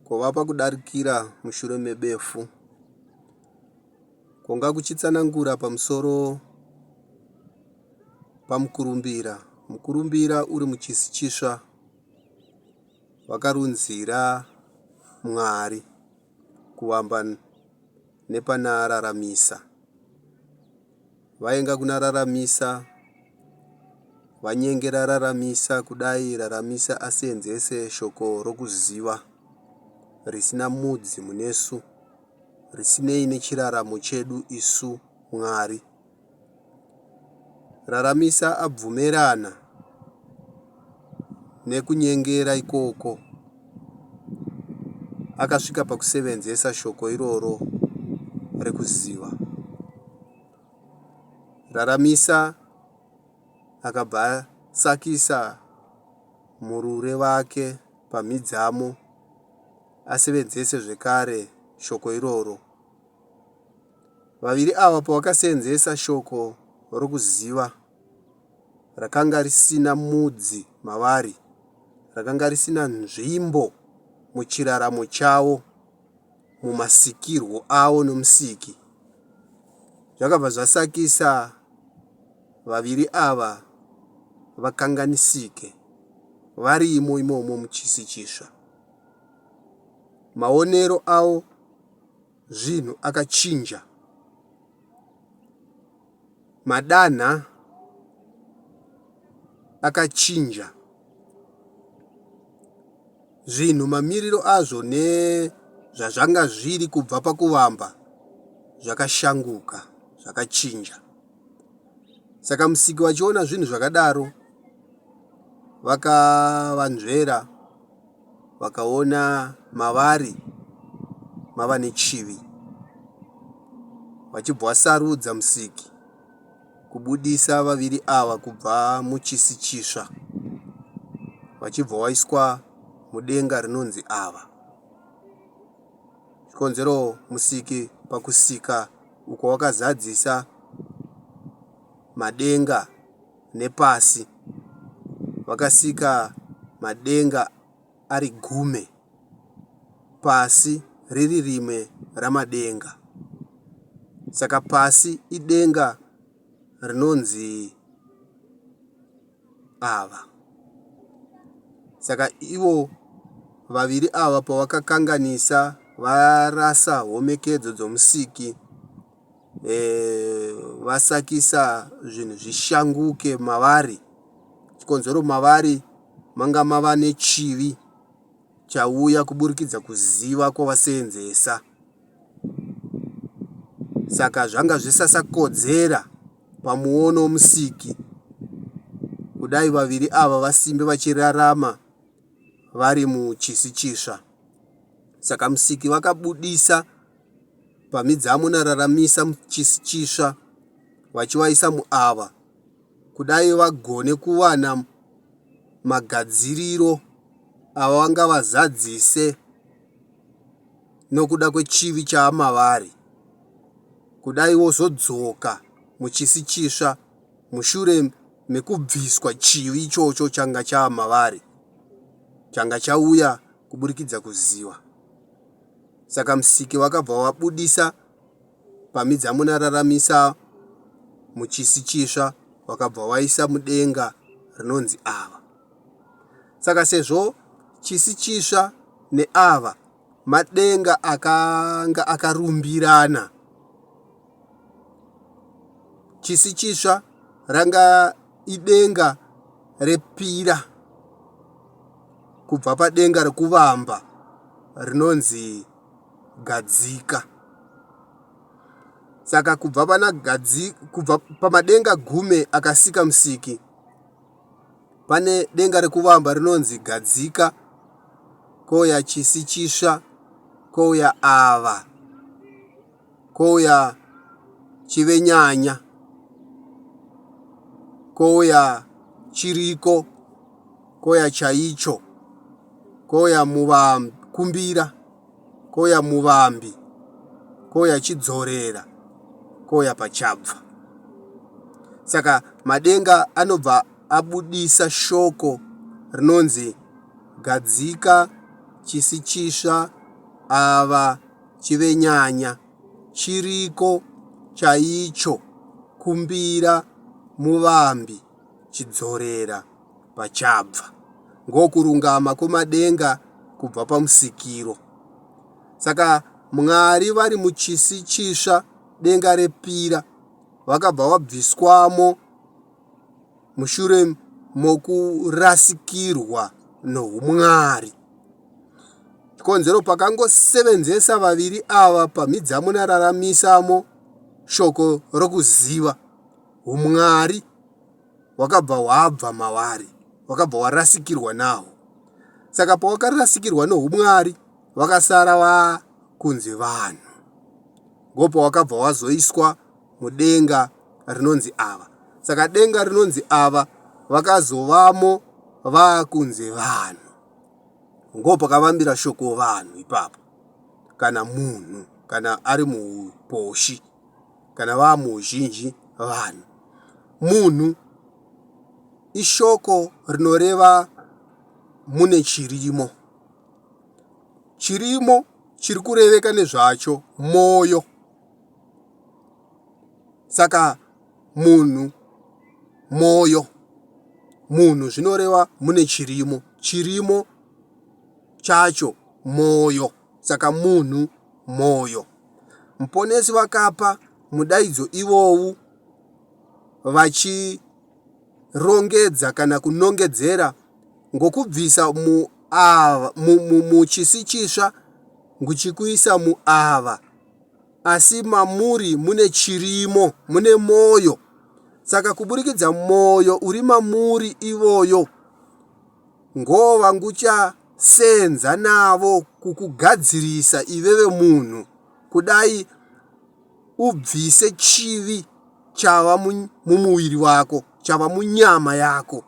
Kwovapa kudarikira mushure mebefu. Kwonga kuchitsanangura pamusoro pamukurumbira. Mukurumbira uri muchisi chisva wakarunzira Mwari kuvamba nepanaararamisa. vainga kuna raramisa vanyenge rararamisa kudai raramisa asenzese shoko rokuziva risina mudzi munesu risinei nechiraramo chedu isu mwari raramisa abvumerana nekunyengera ikoko, akasvika pakusevenzesa shoko iroro rekuziva. Raramisa akabva asakisa murure vake pamhidzamo asevenzese zvekare shoko iroro. Vaviri ava pavakasevenzesa shoko rokuziva rakanga risina mudzi mavari, rakanga risina nzvimbo muchiraramo chavo, mumasikirwo avo noMusiki. Zvakabva zvasakisa vaviri ava vakanganisike varimo imomo muchisi chisva. Maonero avo zvinhu akachinja. madanha akachinja zvinhu mamiriro azvo nezvazvanga zviri kubva pakuvamba zvakashanguka zvakachinja saka musiki vachiona zvinhu zvakadaro vakavanzvera vakaona mavari mava nechivi vachibvasarudza Musiki kubudisa vaviri ava kubva muchisi chitsva vachibva waiswa mudenga rinonzi ava. Chikonzero Musiki pakusika uko wakazadzisa madenga nepasi, vakasika madenga ari gume, pasi riri rimwe ramadenga. Saka pasi idenga rinonzi ava. Saka ivo vaviri ava pavakakanganisa varasa homekedzo dzomusiki. vasakisa zvinhu zvishanguke mavari chikonzero mavari manga mava nechivi chauya kuburikidza kuziva kwavaseenzesa saka zvanga zvisasakodzera pamuono womusiki kudai vaviri ava vasimbe vachirarama vari muchisi chisva saka musiki vakabudisa Pamidzamo nararamisa muchisi chitsva wachiwaisa muava kudai vagone kuwana magadziriro avangavazadzise nokuda kwechivi chaamavari kudai vozodzoka muchisi chitsva mushure mekubviswa chivi ichocho changa chaamavari changa chauya kuburikidza kuziva Saka Musiki wakabva wabudisa pamhidza munararamisa muchisi chisva wakabva waisa mudenga rinonzi ava. Saka sezvo chisi chisva neava madenga akanga akarumbirana chisi chitsva ranga idenga repira kubva padenga rekuvamba rinonzi gadzika saka kubva pana gadzika kubva pamadenga gume akasika musiki pane denga rekuvamba rinonzi gadzika kouya chisi chitsva kouya ava kouya chivenyanya kouya chiriko kouya chaicho kouya muvakumbira kouya muvambi kouya chidzorera kouya pachabva saka madenga anobva abudisa shoko rinonzi gadzika chisi chisva ava Chivenyanya chiriko chaicho kumbira muvambi chidzorera pachabva ngokurungama kwomadenga kubva pamusikiro. Saka Mwari vari muchisi chitsva denga repira vakabva vabviswamo mushure mokurasikirwa noumwari. Chikonzero pakangosevenzesa vaviri ava pamhidzamo nararamisamo shoko rokuziva umwari wakabva wabva mavari, wakabva warasikirwa naho. Saka pawakarasikirwa noumwari, vakasara vakunzi vanhu. Ngopo wakabva wazoiswa mudenga rinonzi ava. Saka denga rinonzi ava vakazovamo vakunze vanhu. Ngo pakavambira shoko vanhu ipapo. Kana munhu, kana ari muposhi, kana vamuzhinji vanhu. Munhu ishoko rinoreva mune chirimo. Chirimo chiri kureveka nezvacho moyo. saka munhu mwoyo munhu zvinoreva mune chirimo chirimo chacho mwoyo saka munhu mwoyo muponesi vakapa mudaidzo ivowu vachi rongedza kana kunongedzera ngokubvisa mu ava mu, mu, muchisi chisva nguchikuisa mu ava asi mamuri mune chirimo mune moyo saka kuburikidza moyo uri mamuri ivoyo ngova ngucha senza navo kukugadzirisa iveve munhu kudai ubvise chivi chava mumuviri wako, chava munyama yako.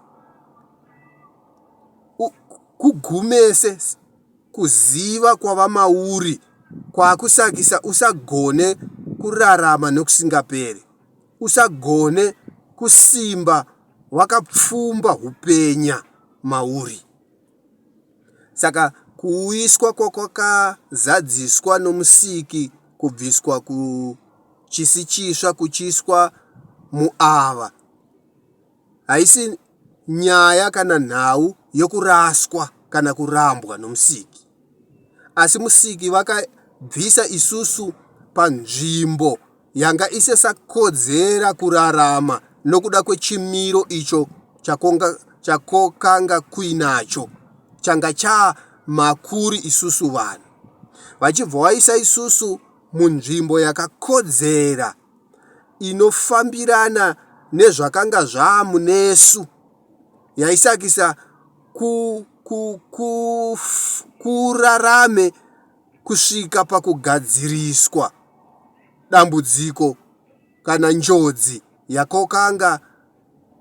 Kugumese kuziva kwava mauri kwakusakisa usagone kurarama nokusingaperi, usagone kusimba wakapfumba upenya mauri. Saka kuuyiswa kwakwakazadziswa noMusiki kubviswa kuchisi chitsva kuchiiswa muava haisi nyaya kana nhau yokuraswa kana kurambwa noMusiki, asi Musiki vakabvisa isusu panzvimbo yanga isisakodzera kurarama nokuda kwechimiro icho chakonga, chakokanga kuinacho changa chaa makuri isusu vanhu vachibva waisa isusu munzvimbo yakakodzera inofambirana nezvakanga zvaamunesu yaisakisa ku, ku, ku, kurarame kusvika pakugadziriswa dambudziko kana njodzi yakokanga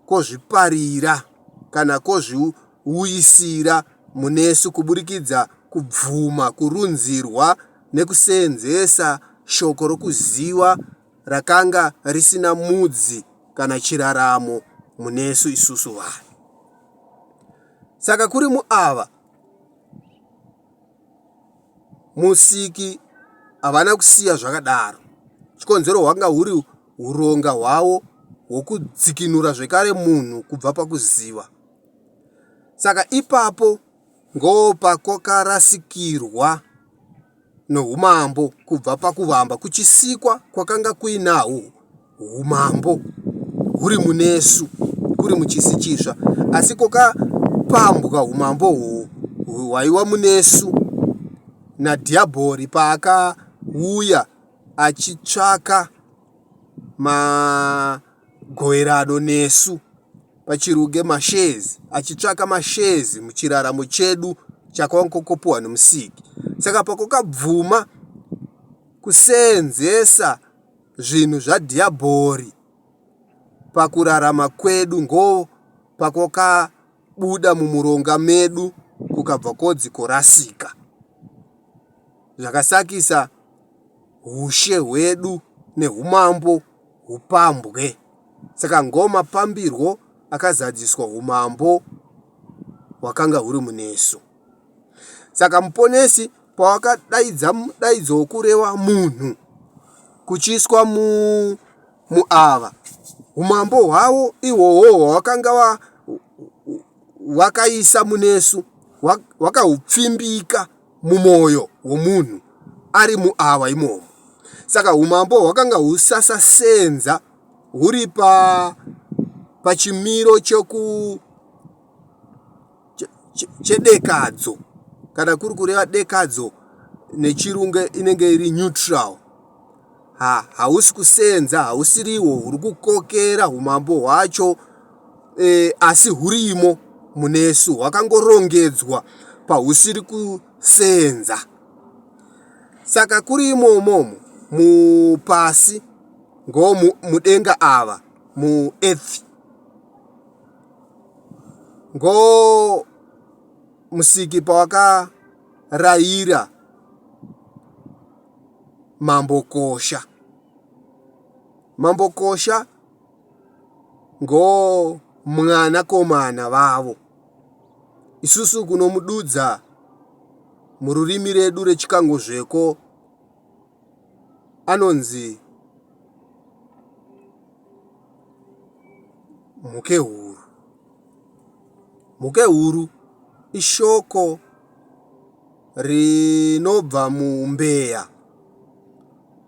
kozviparira kana kozviuyisira munesu kuburikidza kubvuma kurunzirwa nekuseenzesa shoko rokuziva rakanga risina mudzi kana chiraramo munesu isusu vanhu. Saka kuri muava, Musiki havana kusiya zvakadaro, chikonzero hwanga huri huronga hwavo hwokudzikinura zvekare munhu kubva pakuziva. Saka ipapo ngopakwakarasikirwa noumambo kubva pakuvamba kuchisikwa kwakanga kuinahwo humambo huri munesu kuri muchisi chitsva asi kokapambwa humambo uhwu hwaiwa munesu nadhiyabhori paakauya achitsvaka magoverano nesu pachiruge mashes achitsvaka mashes muchiraramo chedu chakwankokopuwa nomusiki saka pakokabvuma kuseenzesa zvinhu zvaDhiabhori pakurarama kwedu ngo pakwakabuda mumuronga medu kukabva kodzi korasika zvakasakisa hushe hwedu nehumambo hupambwe. Saka ngo mapambirwo akazadziswa humambo hwakanga huri munesu. Saka muponesi pawakadaidza mudaidzo wokureva munhu kuchiiswa mu, muava umambo hwavo ihwohwo hwawakanga wa, wakaisa munesu wakahupfimbika mumwoyo womunhu ari muava imomo saka umambo hwakanga husasasenza huri pa pachimiro choku chedekadzo che, che kana kuri kureva dekadzo nechirungu inenge iri neutral ha hausi kusenza hausiriwo huri kukokera humambo hwacho e, asi hurimo munesu hwakangorongedzwa pahusiri kusenza saka kuri imomomo mupasi ngo mudenga ava muearth ngo musiki pawakaraira mambokosha mambokosha ngo mwana komana vavo isusu kunomududza mururimi redu rechikangozveko anonzi mhukehuru. Mhukehuru ishoko rinobva muumbeya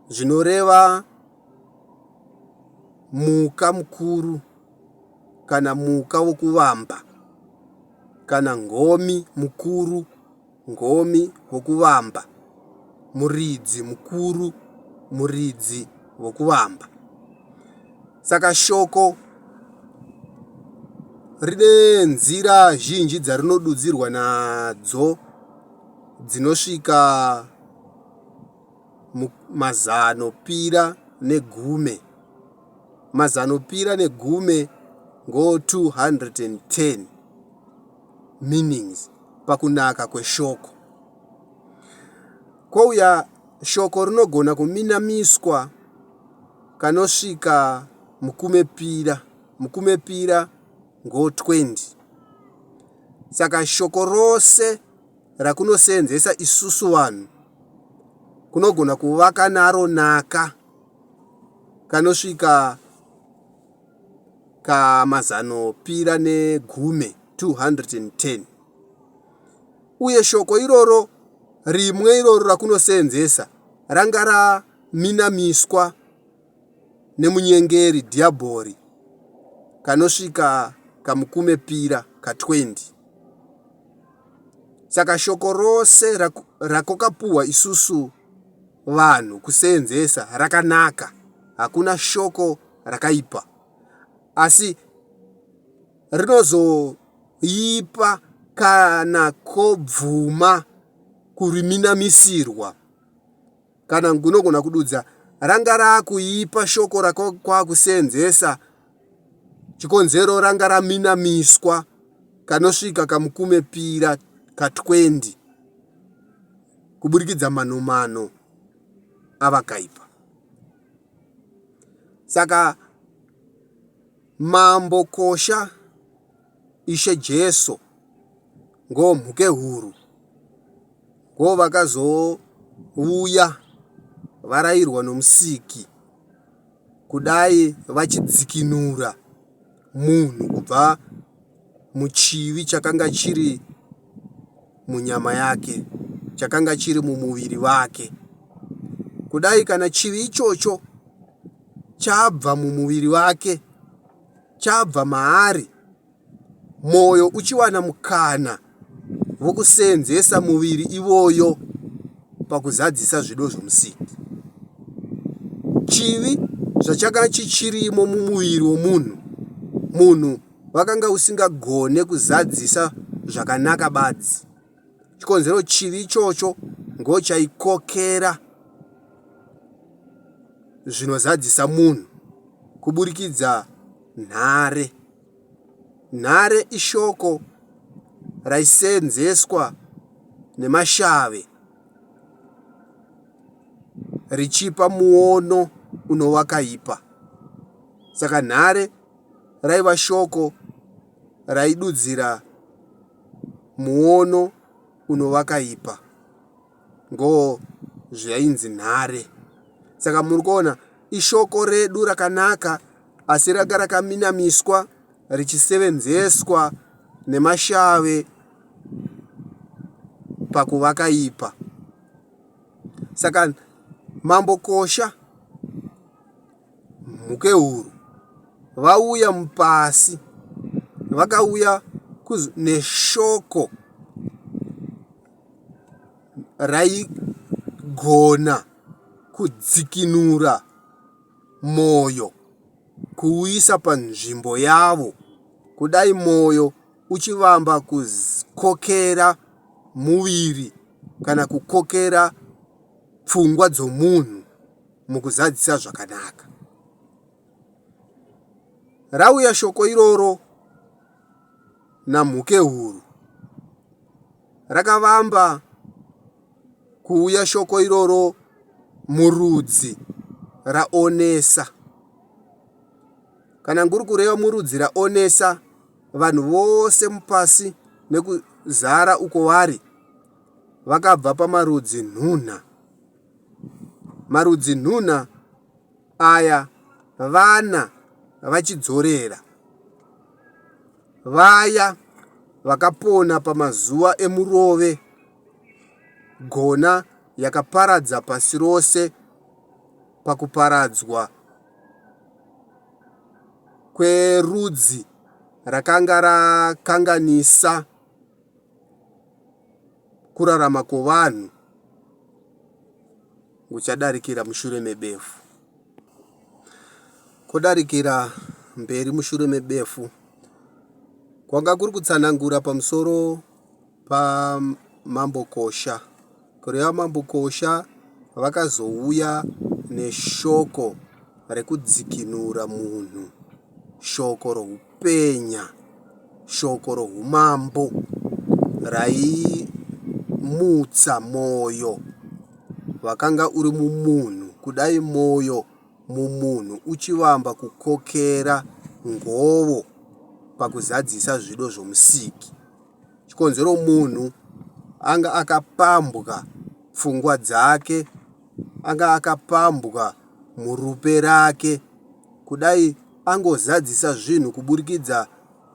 zvinoreva muka mukuru kana muka wokuvamba kana ngomi mukuru. Ngomi vokuvamba, muridzi mukuru, muridzi vokuvamba. Saka shoko rine nzira zhinji dzarinodudzirwa nadzo dzinosvika mazano pira negume mazanopira negume ngo 210 meanings pakunaka kweshoko. Kouya shoko rinogona kuminamiswa kanosvika mukumepira. Mukumepira ngo 20. Saka shoko rose rakunoseenzesa isusu vanhu kunogona kuvaka naro naka kanosvika kamazaanopira negumi 210. Uye shoko iroro rimwe iroro rakunoseenzesa ranga raminamiswa nemunyengeri Dhiabhori kanosvika kamukume pira ka 20. Saka shoko rose rakokapuwa isusu vanhu kuseenzesa rakanaka. Hakuna shoko rakaipa asi rinozoipa kana kobvuma kuriminamisirwa kana ngunogona kududza ranga raakuipa shoko rakwakuseenzesa chikonzero ranga raminamiswa kanosvika kamukume pira ka20 kuburikidza manomano avakaipa Saka Mambo Kosha, Ishe Jesu ngo Mhukehuru ngo vakazouya varairwa no Musiki kudai vachidzikinura munhu kubva muchivi chakanga chiri munyama yake, chakanga chiri mumuviri vake. Kudai kana chivi ichocho chabva mumuviri vake, chabva maari, mwoyo uchiwana mukana vokuseenzesa muviri ivoyo pakuzadzisa zvido zvomusiki. Chivi zvachaka chichirimo mumuviri womunhu, munhu wakanga usingagone kuzadzisa zvakanaka badzi. Chikonzero chivi ichocho ngochaikokera zvinozadzisa munhu kuburikidza nhare Nhare ishoko raisenzeswa nemashave richipa muono unowakaipa. Saka nhare raiva shoko raidudzira muono unowakaipa. ngo zvainzi nhare. Saka muri kuona ishoko redu rakanaka asi ranga rakaminamiswa richisevenzeswa nemashave pakuvaka ipa. Saka mambo Kosha Mhukehuru vauya mupasi vakauya neshoko raigona kudzikinura moyo kuuisa panzvimbo yavo kudai moyo uchivamba kukokera muviri kana kukokera pfungwa dzomunhu mukuzadzisa zvakanaka. Rauya shoko iroro naMhukehuru. rakavamba kuuya shoko iroro murudzi raonesa. Kana nguri kureva murudzi raonesa vanhu vose mupasi nekuzara uko vari vakabva pamarudzi nhunha. Marudzi nhunha aya vana vachidzorera. Vaya vakapona pamazuva emurove gona yakaparadza pasi rose pakuparadzwa kwerudzi rakanga rakanganisa kurarama kovanhu Kuchadarikira mushure mebefu. Kudarikira mberi mushure mebefu kwanga kuri kutsanangura pamusoro paMambokosha kureva Mambokosha vakazouya neshoko rekudzikinura munhu. shoko roupenya, shoko roumambo raimutsa mwoyo wakanga uri mumunhu. Kudai mwoyo mumunhu uchivamba kukokera ngovo pakuzadzisa zvido zvoMusiki, chikonzero munhu anga akapambwa pfungwa dzake anga akapambwa murupe rake kudai angozadzisa zvinhu kuburikidza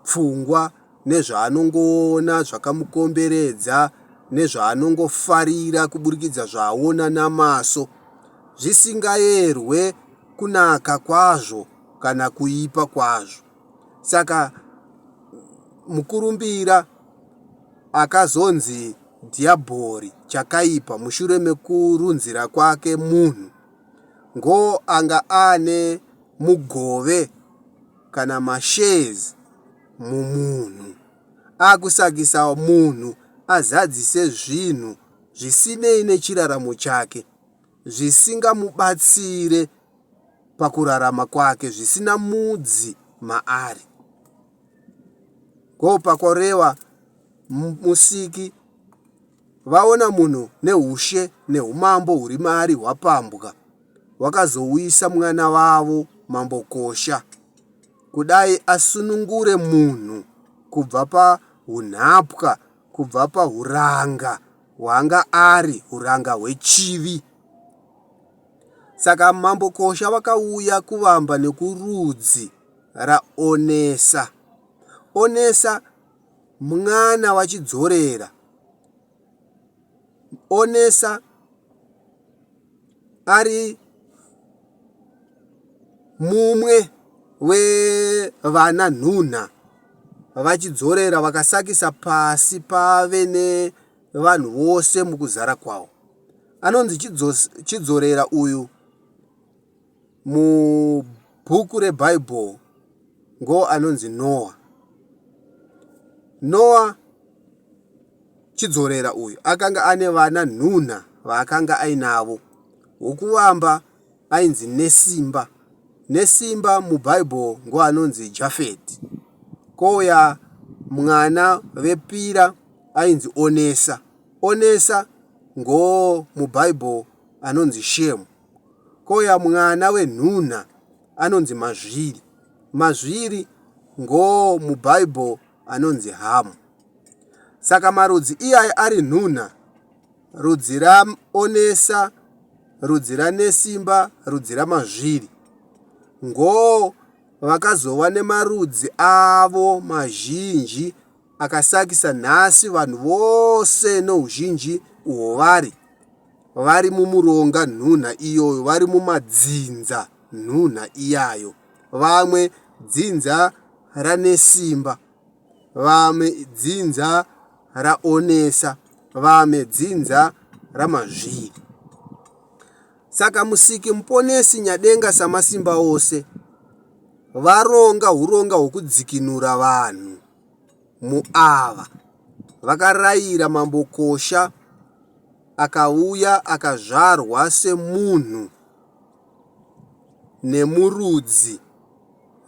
pfungwa nezvaanongoona zvakamukomberedza nezvaanongofarira kuburikidza zvaaona namaso zvisingaerwe kunaka kwazvo kana kuipa kwazvo saka mukurumbira Akazonzi Dhiabhori chakaipa mushure mekurunzira kwake munhu ngo anga aane mugove kana mashares mumunhu akusakisa munhu azadzise zvinhu zvisinei nechiraramo chake zvisingamubatsire pakurarama kwake zvisina mudzi maari. Go pakoreva Musiki vaona munhu nehushe nehumambo huri maari hwapambwa wakazouyisa mwana vavo mambo Kosha kudai asunungure munhu kubva pahunhapwa kubva pahuranga hwanga ari huranga hwechivi saka mambo Kosha vakauya kuvamba nekurudzi raonesa onesa mwana wachidzorera onesa ari mumwe wevana nhunha vachidzorera vakasakisa pasi pave nevanhu vose mukuzara kwawo anonzi chidzorera uyu Mubhuku reBhaibheri ngo anonzi Noa. Noa chidzorera uyu akanga ane vana nhunha vaakanga ainavo. Wokuvamba ainzi Nesimba. Nesimba mubhaibheri ngo anonzi Jafeti. Kouya mwana vepira ainzi Onesa. Onesa ngo mubhaibheri anonzi Shemu. Koya mwana wenhunha anonzi mazviri. Mazviri ngoo muBible anonzi hamu. Saka marudzi iyayi ari nhunha, rudzi raonesa, rudzi ranesimba, rudzi ramazviri. Ngoo vakazova nemarudzi avo mazhinji. akasakisa nhasi vanhu vose nouzhinji uhwo vari, vari mumuronga nhunha iyoyo, vari mumadzinza nhunha iyayo, vamwe dzinza ranesimba, vamwe dzinza raonesa, vamwe dzinza ramazviri. Saka Musiki Muponesi Nyadenga Samasimba Ose varonga uronga hwokudzikinura vanhu. muava vakarayira mambokosha akauya akazvarwa semunhu nemurudzi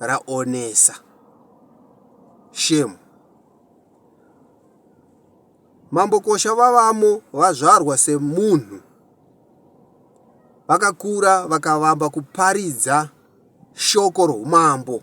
raonesa shame mambokosha vavamo vazvarwa semunhu vakakura vakavamba kuparidza shoko roumambo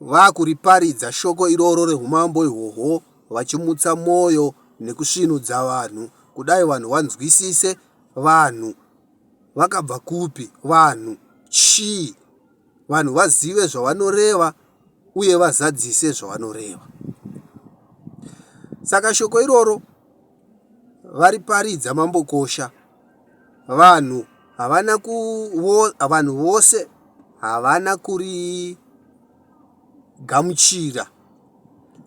vakuriparidza shoko iroro reumambo ihwohwo vachimutsa mwoyo nekusvinudza vanhu kudai vanhu vanzwisise vanhu vakabva kupi vanhu chii vanhu vazive zvavanoreva uye vazadzise zvavanoreva saka shoko iroro variparidza mambokosha vanhu havana vanhu vose havana kuri gamuchira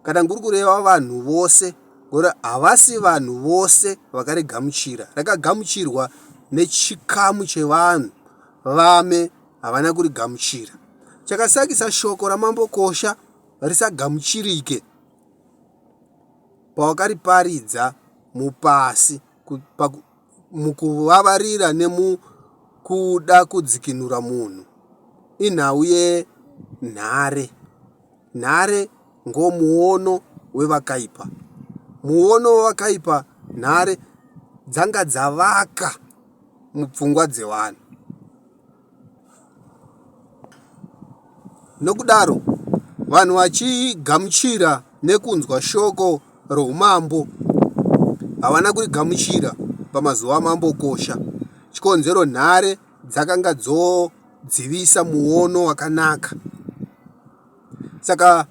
kana nguri kureva vanhu vose ora havasi vanhu vose vakarigamuchira rakagamuchirwa nechikamu chevanhu vame havana kurigamuchira chakasakisa shoko ramambokosha risagamuchirike pawakariparidza mupasi mukuvavarira nemukuda kudzikinura munhu inhau yenhare nhare ngomuono wevakaipa muono wevakaipa nhare dzanga dzavaka mupfungwa dzevanhu Nokudaro, vanhu vachigamuchira nekunzwa shoko roumambo havana kurigamuchira pamazuva amambokosha. Chikonzero, nhare dzakanga dzodzivisa muono wakanaka. Saka,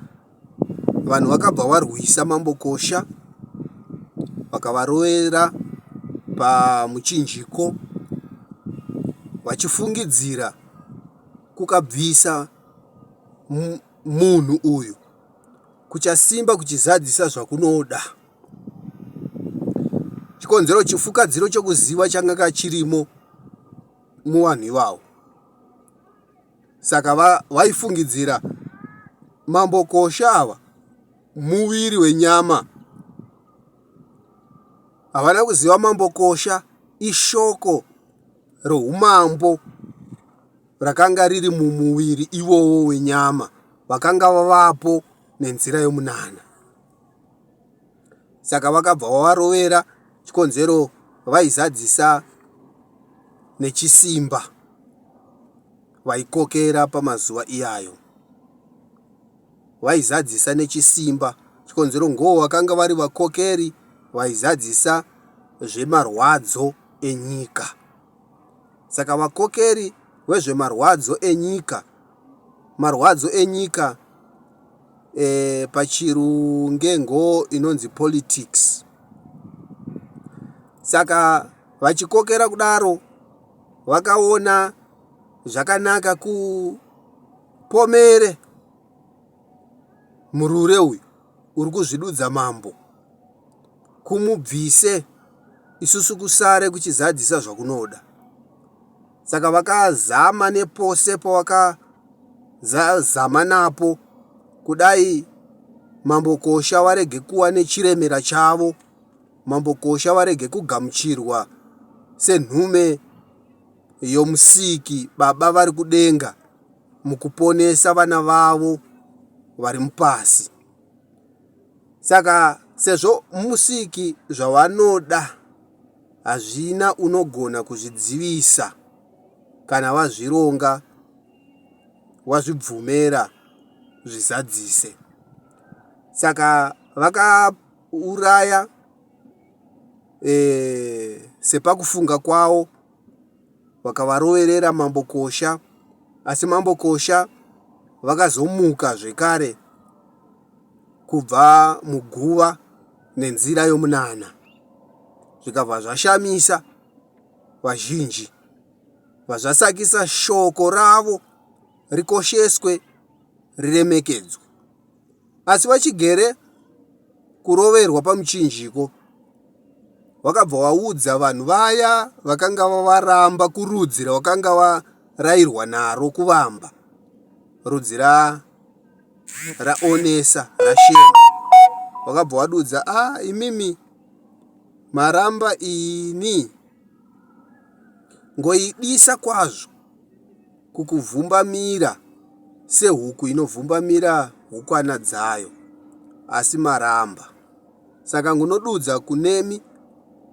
vanhu vakabva varwisa mambokosha vakavarovera pamuchinjiko vachifungidzira kukabvisa munhu uyu kuchasimba kuchizadzisa zvakunoda chikonzero chifukadziro chokuziva changa kachirimo muvanhu ivavo saka vaifungidzira mambo kosha ava muviri wenyama havana kuziva mambo kosha ishoko roumambo rakanga riri mumuviri ivowo wenyama vakanga vavapo nenzira yomunana saka vakabva vavarovera chikonzero vaizadzisa nechisimba vaikokera pamazuva iyayo vaizadzisa nechisimba chikonzero ngoo vakanga vari vakokeri vaizadzisa zvemarwadzo enyika saka vakokeri vezvemarwadzo enyika marwadzo enyika pachirungengo inonzi politics saka vachikokera kudaro vakaona zvakanaka kupomere murure uyu uri kuzvidudza mambo kumubvise isusu kusare kuchizadzisa zvakunoda Saka vakazama nepose pavakazama napo kudai Mambo Kosha varege kuva nechiremera chavo, Mambo Kosha varege kugamuchirwa senhume yoMusiki, Baba vari kudenga, mukuponesa vana vavo vari mupasi. Saka sezvo Musiki zvavanoda hazvina unogona kuzvidzivisa kana wazvironga wazvibvumera zvizadzise saka vakauraya e, sepakufunga kwawo vakavaroverera mambo kosha asi mambo kosha vakazomuka zvekare kubva muguva nenzira yomunana zvikabva zvashamisa vazhinji vazvasakisa shoko ravo rikosheswe riremekedzwe asi vachigere kuroverwa pamuchinjiko wakabva waudza vanhu vaya vakanga vavaramba kurudzi rwakanga varayirwa naro kuvamba rudzi ra raonesa rashema wakabva wadudza ah imimi maramba ini ngoidisa kwazvo kukuvhumbamira sehuku inovhumbamira hukwana dzayo asi maramba Saka ngunodudza kunemi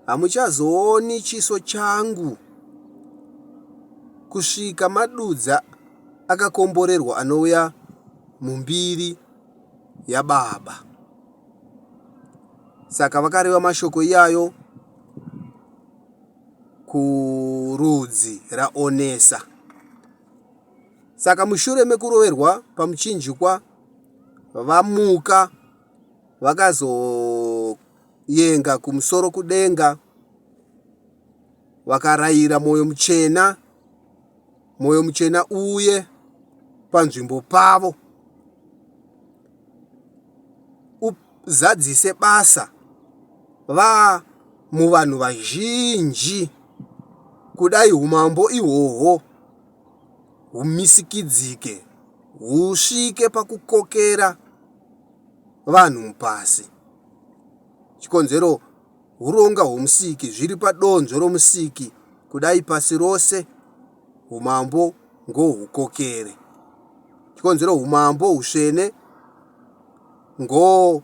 hamuchazooni chiso changu kusvika madudza akakomborerwa anouya mumbiri yababa. Saka vakareva mashoko iyayo kurudzi raOnesa. Saka mushure mekuroverwa pamuchinjikwa vamuka. vakazoyenga kumusoro kudenga vakarayira mwoyo muchena mwoyo muchena uye panzvimbo pavo uzadzise basa va muvanhu vazhinji kudai umambo ihwohwo humisikidzike husvike pakukokera vanhu mupasi. Chikonzero huronga hwomusiki zviri padonzvo romusiki kudai pasi rose umambo ngohukokere. Chikonzero umambo husvene ngo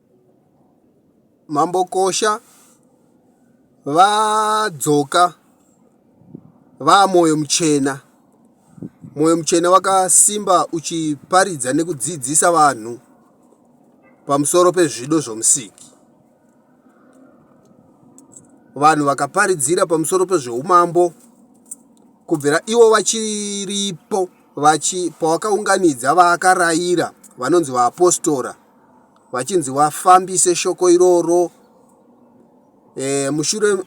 Mambokosha vadzoka vaa Moyo Muchena. Moyo Muchena wakasimba uchiparidza nekudzidzisa vanhu pamusoro pezvido zvomusiki. Vanhu vakaparidzira pamusoro pezveumambo kubvira ivo vachiripo vachi, pawakaunganidza vaakaraira vanonzi vaapostora vachinzi vafambise shoko iroro e, mushure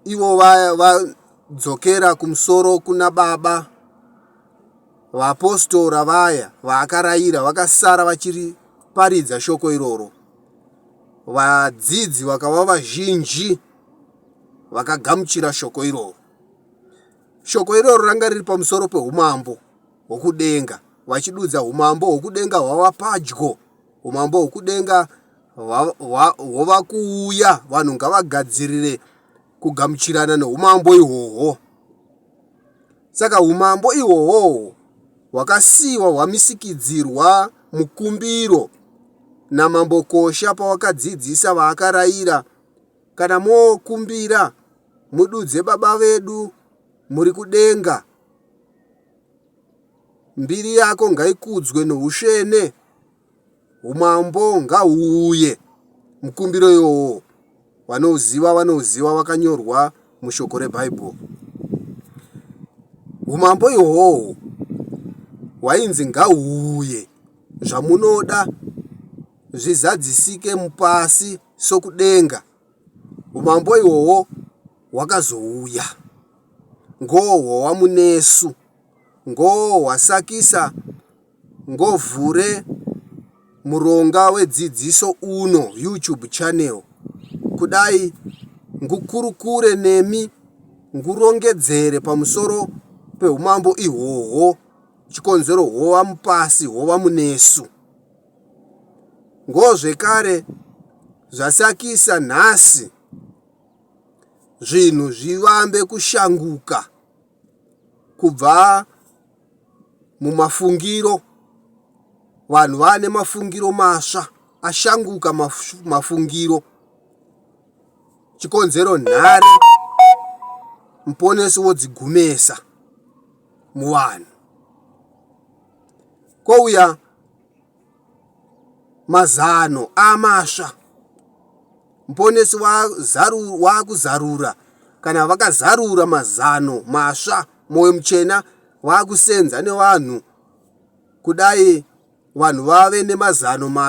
ivo vadzokera va kumusoro kuna baba vaapostora vaya vaakarayira vakasara vachiri paridza shoko iroro vadzidzi vakava vazhinji vakagamuchira shoko iroro shoko iroro ranga riri pamusoro peumambo hwokudenga, vachidudza humambo hwokudenga hwava padyo, humambo hwokudenga hwava kuuya. Vanhu ngavagadzirire kugamuchirana noumambo ihwohwo. Saka umambo ihwohwo hwakasiyiwa hwamisikidzirwa mukumbiro naMambo Kosha pawakadzidzisa vaakarayira, Kana mokumbira, mududze Baba vedu muri kudenga. Mbiri yako ngaikudzwe noushene umambo ngahuuye mukumbiro iwowo vanouziva vanouziva wakanyorwa mushoko rebhaibheri umambo ihwohwo hwainzi ngahuuye zvamunoda zvizadzisike mupasi sokudenga Umambo ihwohwo hwakazouya, ngohwo waMunesu, ngohwo hwasakisa ngovhure muronga wedzidziso uno YouTube channel kudai ngukurukure nemi ngurongedzere pamusoro peumambo ihwohwo chikonzero hwowa mupasi hwowa munesu. Ngo zvekare zvasakisa nhasi zvinhu zvivambe kushanguka kubva mumafungiro vanhu vane mafungiro masva ashanguka mafungiro chikonzero nhare muponesi wodzigumesa muvanhu kwouya mazano amasva muponesi waakuzarura kana vakazarura mazano masva mwoyo muchena waakusenza nevanhu kudai vanhu vave nemazano masva